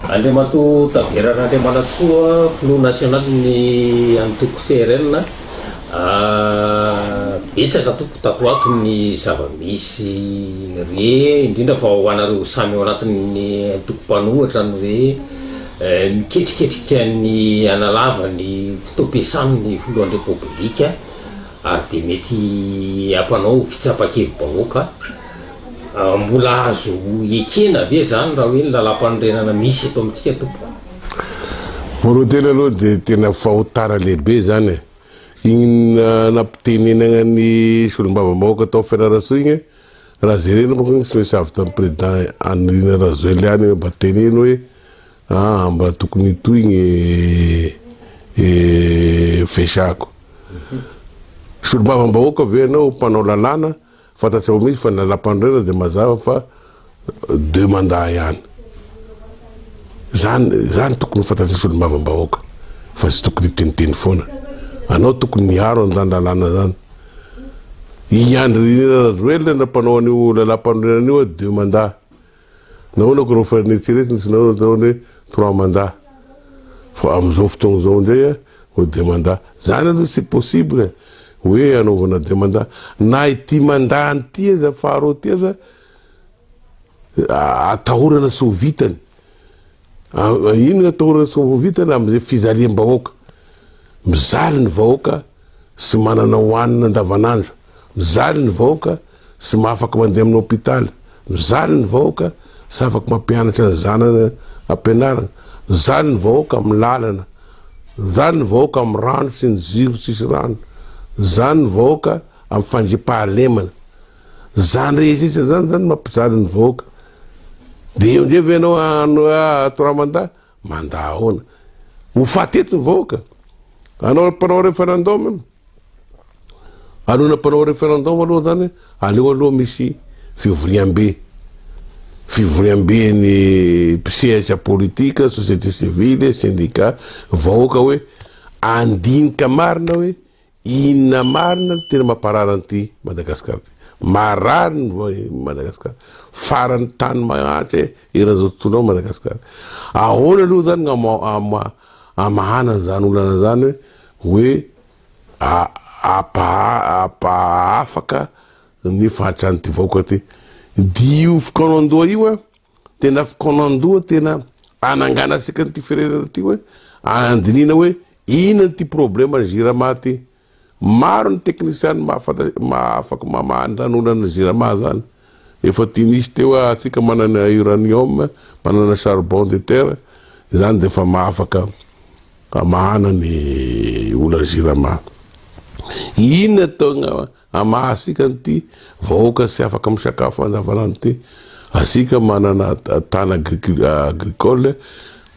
Andriamatoa Tavera Randriamanantsoa, Filoha Nasionalin'ny Antoko CRN, Betsaka tompoko tato ato ny zava-misy re, indrindra fa ho anareo samy ao anatin'ny antoko mpanohitra ny hoe miketriketrika ny hanalava ny fotoam-piasany ny Filohan'ny Repoblika ary dia mety hampanao fitsapan-kevi-bahoaka. Mbola azo ekena ve izany raha hoe ny lalam-panorenana misy eto amintsika tompoko? Morotena aloha dia tena fahotana lehibe izany e! Iny nampitenenana ny solombavambahoaka tao Fianarantsoa iny, raha jerena manko iny tsy misy avy tamin'ny président Andrinirina Rajoel ihany hoe mba teneno hoe aa mba tokony hitohina e fesaako. Solombavambahoaka ve ianao mpanao lalàna? Fantatsika mihitsy fa ny lalampanorenana dia mazava fa deux mandats ihany. Izany izany tokony ho fantatry solombavambahoaka fa tsy tokony hiteniteny foana. Anao tokony miaro an'izany lalàna izany. I Andry Nirina Rajoelina no mpanao an'io lalampanorenana io a deux mandats. Nahoana ko raha farine tsy retina tsy nahoana atao hoe trois mandat fa amizao fotoagna zao ndray a hoe deux mandat zany aloha tsy possible hoe anaovana deux mandat na ity mandat ny ity aza faharoa ty aza atahorana tsy ho vitany ino no atahorana tsy ho vitany amizay fijaliam-bahoaka mijaly ny vahoaka tsy manana hohanina andavanandro Mijaly ny vahoaka sy mahafaka mandeha amin'ny hopitaly. Mijaly ny vahoaka sy afaka mampianatra ny zanany ampianarana. Mijaly ny vahoaka amin'ny lalana. Mijaly ny vahoaka amin'ny rano sy ny jiro tsisy rano. Mijaly ny vahoaka amin'ny fandriampahalemana. Izany rehetra izany izany no mampijaly ny vahoaka. Dia eo indray ve ianao hanao hoe ah, ato raha mandà? Mandà ahoana? Ho faty eto ny vahoaka? Anao mpanao referendum? Alohan'ny hampanao referendum aloha zany, aleo aloha misy fivoriambe. Fivoriamben'ny mpisehatra politika, société civile, syndicat, vahoaka hoe andinika marina hoe inona marina no tena mamparary an'ity Madagascar ty. Marary ny Madagascar. Faran'ny tany mahantra eran'izao tontolo izao Madagascar. Ahoana aloha zany no hamahana an'izany olana izany hoe. hoe ampaha-afaka ny fahatran'ity vahoaka ity. Dia io fikaonan-doha io an, tena fikaonan-doha tena hananganantsika an'ity firenena ity hoe handinihina hoe inona ity problème jirama ity. Maro ny teknisiana mahafantatra, afaka mamaha ny lanonan'ny jirama izany. Efa tiany hisy teo ah atsika manana uranium, manana charbon de terre, izany dia efa mahafaka hamahana ny olan'ny jirama. Inona togna hamaha asika an'ity vahoaka tsy afaka misakafo andavanandro ity? Asika manana tana agricole,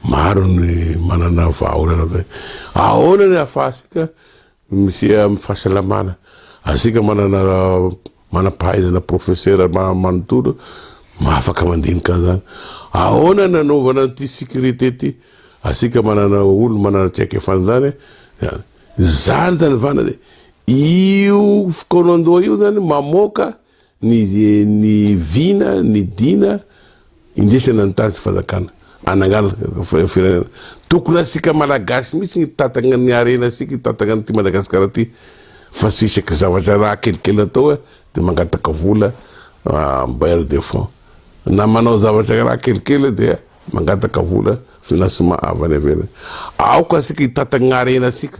maro ny manana vahaolana, ahoana ny afahatsika Misy amin'ny fahasalamana. Aztsika manana manam-pahaizana profesera manontolo afaka mandinika an'izany. Ahoana ny hanaovana an'ity sécurité ity? Aztsika manana olona manana traikefa an'izany izany. Izany izany vanana e! Io fikaonandoha io izany mamoaka Ny ny vina, ny dina, indesana ny tany fanjakana, anangalaka firenena. Tokony asika malagasy mihitsy ny hitantagna ny harena sika, hitantagna an'ity Madagasikara ty, fa tsy isaka zavatra raha kelikely atao de mangataka vola bailleur de fonds, na manao zavatra raha kelikely dia mangataka vola financement avy any ivelany. Aoka asika hitantagna harena sika.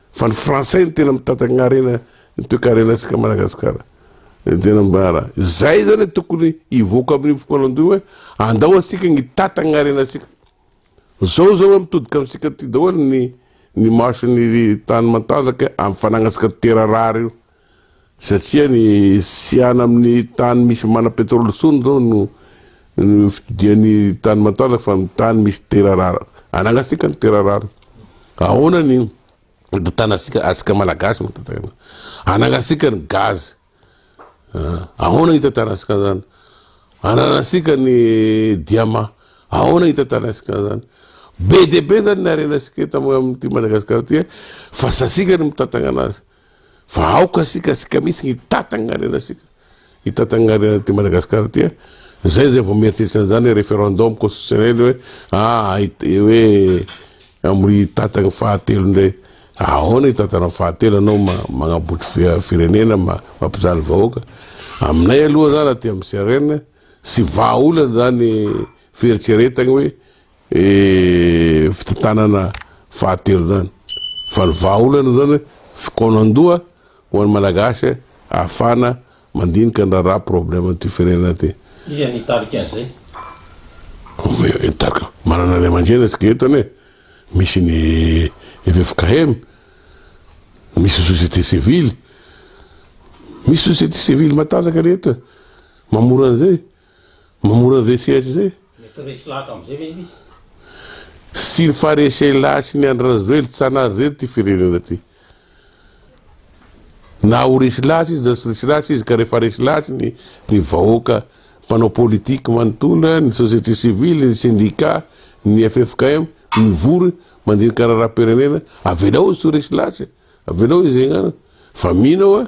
Fa ny français no tena mitatagna harena ny toekarena tsika Madagascar ny tena mbara zay zany tokony hivoaka aminy fokoanandoha hoe andao atsika ny hitatagna harena tsika zao zao hoe mitodika amitsika ty daholo ny ny marche ny tany matanjaka amy fanagna tsika toera rare io Satria ny siana amin'ny tany misy mana petrole tsony izao no fidian'ny tany matanjaka fa ny tany misy tera rara. Anangatsika ny tera rara. Ahoana ny tantanantsika atsika malagasy no tantanana. Anangatsika ny gaz. Ahoana hitantanantsika an'izany. Ananantsika ny diamant. Ahoana hitantanantsika an'izany. Be dia be izany ny harenantsika eto amin'ity Madagasikara ity fa tsy atsika ny mitantanana azy. Fa aoka asika asika mihitsy ny tatangarena asika ny tatangarena aty Madagascar aty a, zay zay vao mieritreritra an'izany hoe referendum constitutionnel hoe ah hoe amin'ny tatany fahatelo indray, ahoana ny tatanao fahatelo anao magnambotry firenena mampijaly vahoaka, aminay aloha zany aty amin'ny CRN tsy vahaolana zany fieritreretagny hoe e fitantanana fahatelo zany fa ny vahaolana zany fikaonandoha ho an'ny malagasy ahafahana mandinika ny raharaha problème an'ity firenena ity iza ny hitarika an'izay? hitarika manana ray aman-dreny antsika eto anie misy ny ffkm misy société civile misy société civile matanjaka anie eto e mamora an'izay Mamono an'izay sehatra izay. Mety resy lahatra amin'izay ve izy? Sy ny Farisehilahy sy ny Andry Rajoely, tsy anary irery ity firenena ity. Na ho resy lahatra izy na tsy resy lahatra izy ka rehefa resy lahatra ny ny vahoaka mpanao politique manontolo, ny société civile, ny syndicat, ny ffkm mivory mandinika raharaham-pirenena, avelao izy tsy ho resy lahatra e! Avelao izy hiainganana. Fa mino aho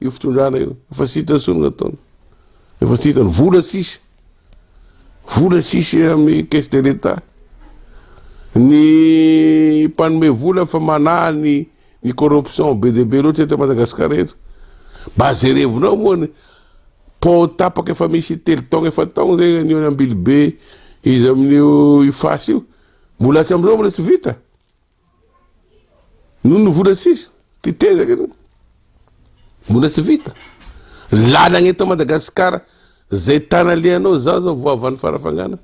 Io fitondrana io, efa tsy hitany intsony ny ataony, efa tsy hitany, vola tsisy, vola tsisy amin'ny caisse de l'État, ny mpanome vola fa manahy ny ny corruption be dia be loatra eto Madagasikara eto, mba jerevinao moa ny pont tapaka efa misy telo taogna efa taogna zay an'io any Ambilibe izy amin'io Iface io, mbola hatramin'izao mbola tsy vita. Noho ny vola sisa, tetezaka aloha. Mbola tsy vita. Lalagna eto Madagasikara, zay tana alehanao, zaho zao vao avy any Farafangana,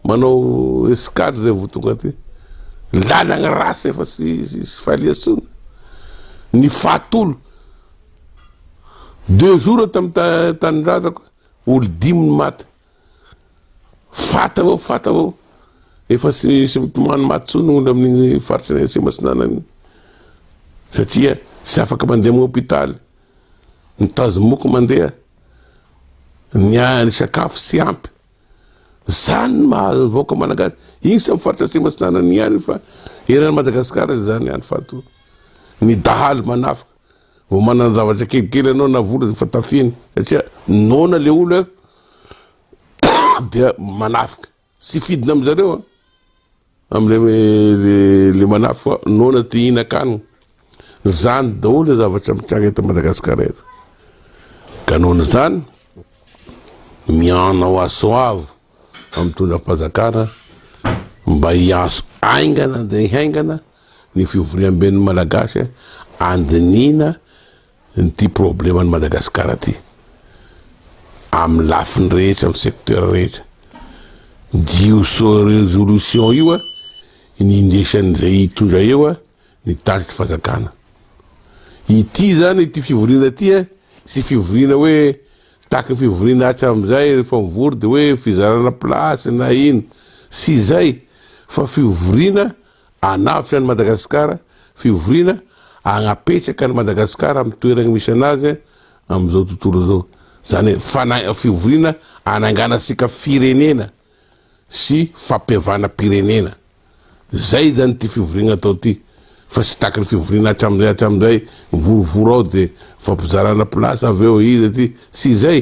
manao escale zay vao tonga aty. Lalagna ratsy efa sy fahalian-tsoana. Ny fahatolo, deux jours tamin'ny tanindrazako, olo dimy ny maty. Fat avao, fat avao. Efa tsy tsy mitomany maty tsony olona amin'ny faritra ny Atsimo Atsinanana satria tsy afaka mandeha amin'ny hôpitaly, ny tazomoky mandeha, ny ny sakafo tsy ampy. Zany ny maha vahoaka malagasy, iza amin'ny faritra Atsimo Atsinanana ihany fa eran'i Madagasikara izany ihany fato. Ny dahalo manafika. Vao manana zavatra kelikely anao na vola dia efa tafihiny satria noana le olo eo dia manafika sy fidina amin zareo a amle le manafika noana te hihinan-kanina zany daholo le zavatra mitranga eto Madagasikara eto ka noana zany mianao asoavo amin'ny tondram-pazakana mba hianso aingana dia hiaingana Ny fivoriamben'ny Malagasy andinihina ity probleman'i Madagasikara ity amin'ny lafiny rehetra, amin'ny secteur rehetra. Dia io résolution io ny indesan'izay hitondra eo ny tariky fazakana. Ity zany ity fivoriana ity sy fivoriana hoe tahaky ny fivoriana hatramin'izay rehefa mivory dia hoe fizarana place na ino sy izay fa fivoriana Hanavotra an'i Madagasikara, fivoriana hagnapetraka an'i Madagasikara amin'ny toeragny misy anazy amin'izao tontolo izao. Zany hoe fana- fivoriana hananganantsika firenena sy fampihavanam-pirenena. Zay zany ty fivoriagna atao ty, fa tsy tahaky ny fivoriana hatramin'izay hatramin'izay, mivorovoro ao de mifampizarana place avy eo iza ty, tsy zay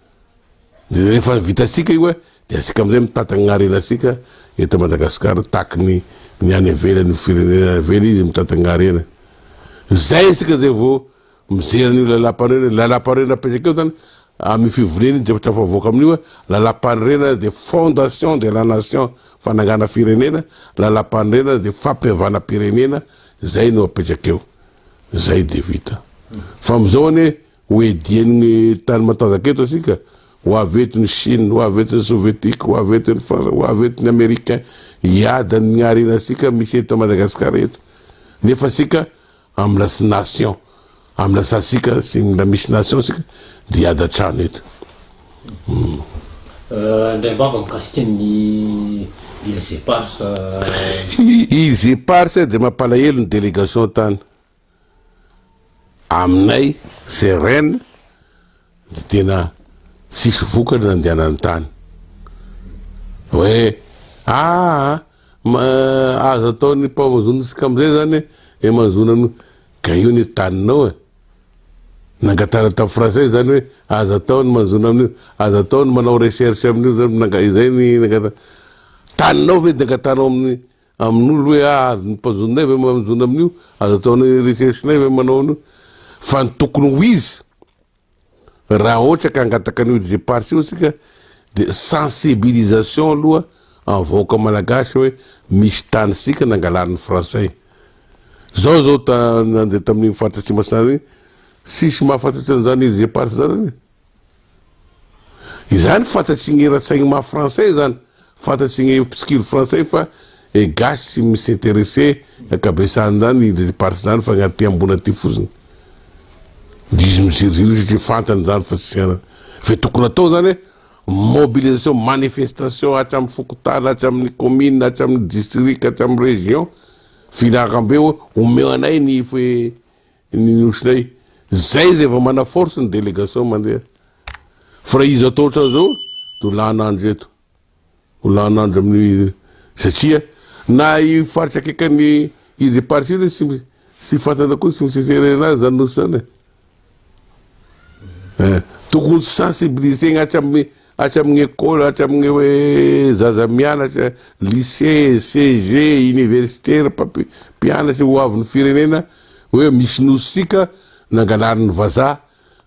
Dia rehefa vitantsika io dia asika amin'izay mitantana ny harenantsika eto Madagascar tahaky ny ny any ivelany ny firenena avela izy mitantana harena. Zay asika zay vao mijery an'io lalam-panorena, lalam-panorena apetraka eo zany amin'ny fivoriana iny dia tafavoaka amin'io lalam-panorena dia fondation de la nation fanangana firenena, lalam-panorena dia fampihavanam-pirenena, zay no apetraka eo. Zay dia vita. Fa amizao anie Ho edien'ny tany matanjaka eto isika, ho avy eto ny Chine, ho avy eto ny Sovietika, ho avy eto ny Fransa, ho avy eto ny Americain hiady amin'ny harenantsika misy eto Madagascar eto. Nefa isika amina sy nation, amina sasika sy mila misy nation isika dia hiady hatrany eto. Hum. Euh, indray ambava mikasika ny îles éparses. Euh. Îles éparses dia mampalahelo ny délégation tany. Aminay CRN dia tena tsisy vokany nandehanany tany. Hoe ah aza ataon'ny mpamazontsika amin'izay zany e mazona an'io. Ka io ny taninao e. Nangatahana tamin'ny Frantsay zany hoe aza atao ny mazona amin'io, aza atao ny manao recherche amin'io zany, izay ny nangatahana. Taninao ve dia angatahanao amin'ny Amin'olo hoe ah azon'ny mpanjoninay ve manjona amin'io? Azo ataonay recherche-nay ve manao an'io? Fa ny tokony ho izy, raha ohatra ka hangataka an'io Jeparts io isika dia sensibilisation aloha amin'ny vahoaka malagasy hoe misy tanintsika nangalan'ny frantsay. Zao zao ta, nandeha tamin'iny faritra Atsimasinana iny, tsisy mahafantatra an'izany Jeparts zany anie. Izany fantatry gny ratsaigny maha français zany, fantatry gny mpitsikilo frantsay fa e gasy tsy mi s'interesser ny ankabesany zany i ndreto partie zany fa gny aty ambony aty fotsiny de izy miziriziry io satria fantany zany fa tsy hiainany, fe tokony atao zany hoe mobilisation, manifestation hatramy fokontany, hatramy ny commune, hatramy ny district, hatramy ny region, filaharambe hoe omeo anay ny. Ny ohatranay zay zay vao mana force ny délégation mandeha fa raha izy atao ohatran'izao dia ho lany andro eto ho lany andro amin'ny satria na i faritra akaikan'ny i départ io tsy mi- tsy fantana koa tsy miseserena azy zany nosy zany e. Eh, tokony sensibiliser-na hatramin'ny Hatramin'ny amin'ny école, hatramin'ny hoe zaza mianatra, lycée, CEG, université, ry mpampi- mpianatry ho avin'ny firenena, hoe misy nosy sika nangalarin'ny vazaha,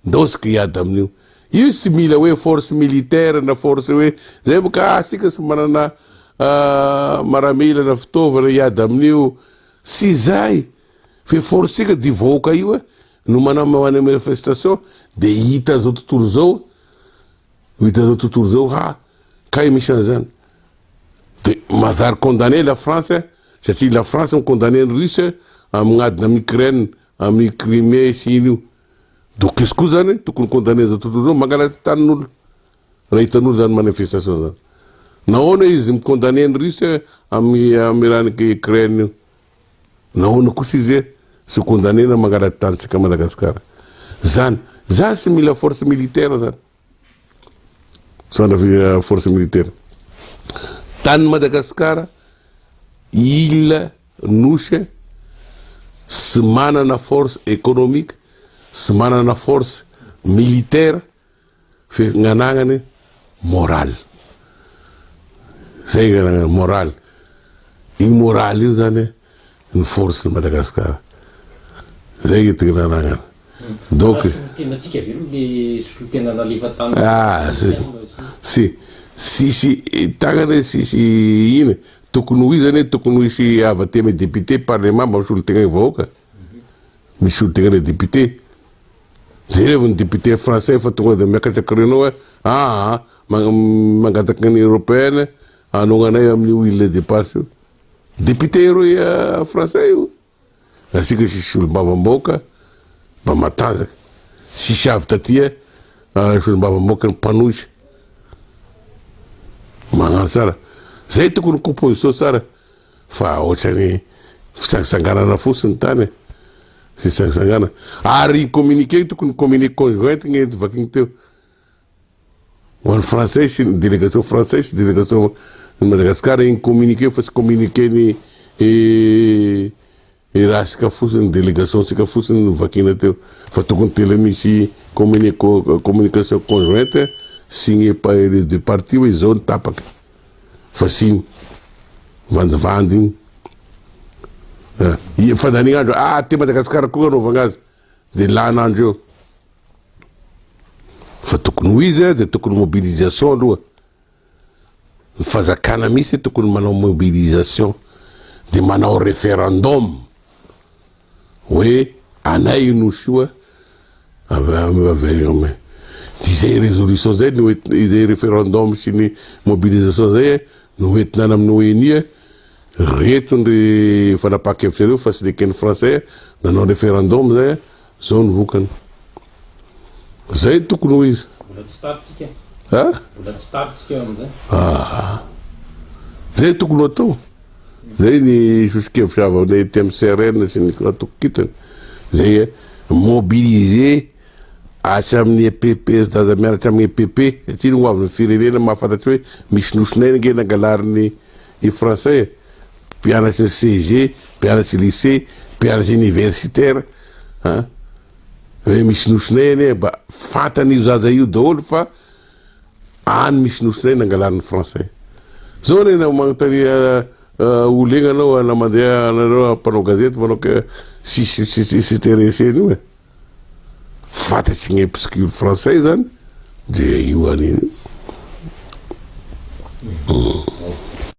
ndao sika hiady amin'io. Io tsy mila hoe force militaire na force hoe zay fa ka sika tsy manana ah, maramila na fitaovana hiady amin'io. Tsy izay! Fe force sika d'io vahoaka io eh, no manao manao manifestation, de hita zao tontolo zao, Ho hitan'izao tontolo izao ha kay misy an'izany. De mazary condamné la France satria la France mi condamné ny Russe amign'adina am Ukraine amin'ny Crimé sy iny io. Donc izy koa zany tokony condamné zao tontolo zao mangalatra tanin'olo raha hitan'olo zany manifestation zany. Nahoana izy mi condamné ny Russe amin'ny amin'ny rahan'i Ukraine io. Nahoana kosa izy tsy condamnena mangala tanintsika Madagascar zany zany tsy mila force militaire zany sandra force militaire tany Madagascar il nosy tsy manana force economique tsy manana force militaire Fianganagany morale. Zay anganagany morale. Io morale io zany ny force ny Madagascar. Zay io tiananagana. Donc solontenantsika ve no le solontenan nalefa tany. Ah, si sisy tagnana sisy ina tokony ho izy zany tokony ho hisy avy aty amin'ny député, parlement mba misolo tegna ny vahoaka. Misy ho degré député. Jereo ny député français fa tonga dia miakatra créneau hoe aa mangataka ny européenne hanognanay amin'io île de Pâche io. Député eroy français io. Asika sisy olom-bavam-bahoaka mba matanjaka. Sisy avy taty eh, olom-bavam-bahoaka ny mpanohitra. Magnano tsara. Zay tokony composition tsara. Fa otrany fitsangisanganana fotsiny ny tany e. Fitsangisangana. Ary iny communiqué iny tokony communiqué conjoint iny ento vakiny teo. Ho an'ny frantsay sy ny délégation frantsay sy délégation ny Madagasikara iny communiqué iny fa tsy communiqué ny eh, Erasika fotsiny ny délégation tsika fotsiny no vakina teo fa tokony tela misy communication conjointe signée par les deux parties hoe izao ny tapaka fa tsy iny vandivandy iny eh, fandaniana andro ah aty Madagasikara koa anaovana azy dia lana andro eo fa tokony ho izy dia tokony mobilisation aloha Ny fanjakana mihitsy tokony manao mobilisation de manao referendum hoe anay io nosy io a. Izay résolution izay no izay referendum sy ny mobilisation izay no hoentina any amin'ny ONU a. Reto ny fanapahan-kevitra ireo fa tsy neken'ny Français nanao referendum izay Zao ny vokany. Zay tokony ho izy. Mbola tsy tary tsika. Ha? Mbola tsy tary tsika eo amin'izay. Ah. Zay tokony atao. Zay ny sosokevitra avy amin'ny TMCRN sy ny atokokitany. Zay eh, mobiliser hatramin'ny EPP, zaza mianatra hatramin'ny EPP, aty ny ho avin'ny firenena mahafantatra hoe misy nosy naina ange nangalarin'ny ny français. mpianatry CEG, mpianatry lycée, mpianatry universitaire an! Hoe misy nosinay anie mba fantan'io zaza io daholo fa any misy nosinay nangalany ny français. Zao anie na magnontania ho legna anao na mandeha anareo mpanao gazety manao ke tsisy tsisy s'intéresser an'io e. Fantatry ny mpisikiry français zany dia io anio.